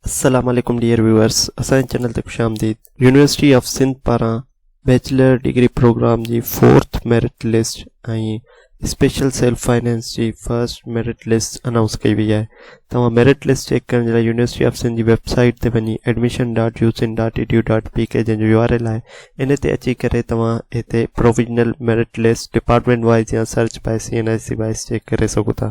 السلام عليڪم dear viewers اسان جي چينل تي خوش آمديد يونيورسٽي آف سنڌ پاران بيچلر ڊگري پروگرام جي fourth merit list ۽ special self finance جي فرسٽ ميرٽ لسٽ انائونس ڪئي وئي آهي توهان ميرٽ لسٽ چيڪ ڪرڻ جي لاء يونيورسٽي آف سنڌ جي ويب سائيٽ تي وڃي admission dot U Sindh dot E D U dot P K جنهن جو يو آر ايل آهي ان تي اچي ڪري توهان هتي provisional merit list department wise يا search by C N I C wise check ڪري سگهو ٿا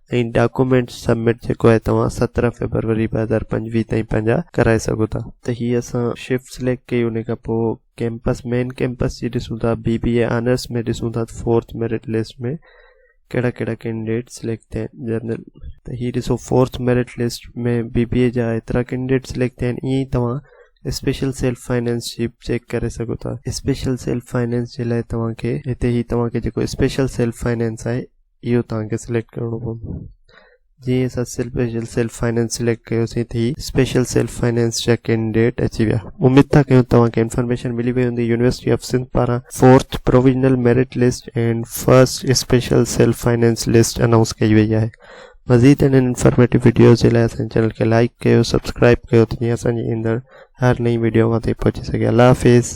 ۽ ڊاڪومينٽس سبمٽ جيڪو آهي توهان سترهن فيبروري ٻه هزار پنجويهه تائين پنهنجا ڪرائي سگهو ٿا. ته هي اسان شفٽ سليڪٽ ڪئي ان کان پوء ڪيمپس مين ڪيمپس جي ڏسون ٿا بي بي اي آنرس ۾ ڏسون ٿا ته فورٿ ميرٽ لسٽ ۾ ڪهڙا ڪهڙا ڪينڊيڊيٽ سليڪٽ ٿيا آهن جنرل ته هي ڏسو fourth merit list ۾ B B A جا ايترا ڪينڊيڊيٽ سليڪٽ ٿيا آهن ائين ئي توهان اسپيشل سيلف فائنينس جي به چيڪ ڪري سگهو ٿا اسپيشل سيلف فائنينس جي لاء توهان کي هتي هي توهان کي جيڪو اسپيشل سيلف فائنينس آهي اهو توهان کي سليڪٽ ڪرڻو پوندو جي اسان سپيشل سيلف فائنانس سليڪٽ ڪيوسين ٿي سپيشل سيلف فائنانس جا ڪينڊيڊيٽ اچي ويا اميد ٿا ڪيون توهان کي انفارميشن ملي وئي هوندي يونيورسٽي آف سنڌ پاران fourth provisional merit list and first special self finance list announce ڪئي وئي آهي مزيد انهن انفارميٽو ويڊيوز جي لاء اسان چينل کي لائڪ ڪيو سبسڪرائب ڪيو ته جيئن اسان جي ايندڙ هر نئين ويڊيو اوهان تائين پهچي سگهي الله حافظ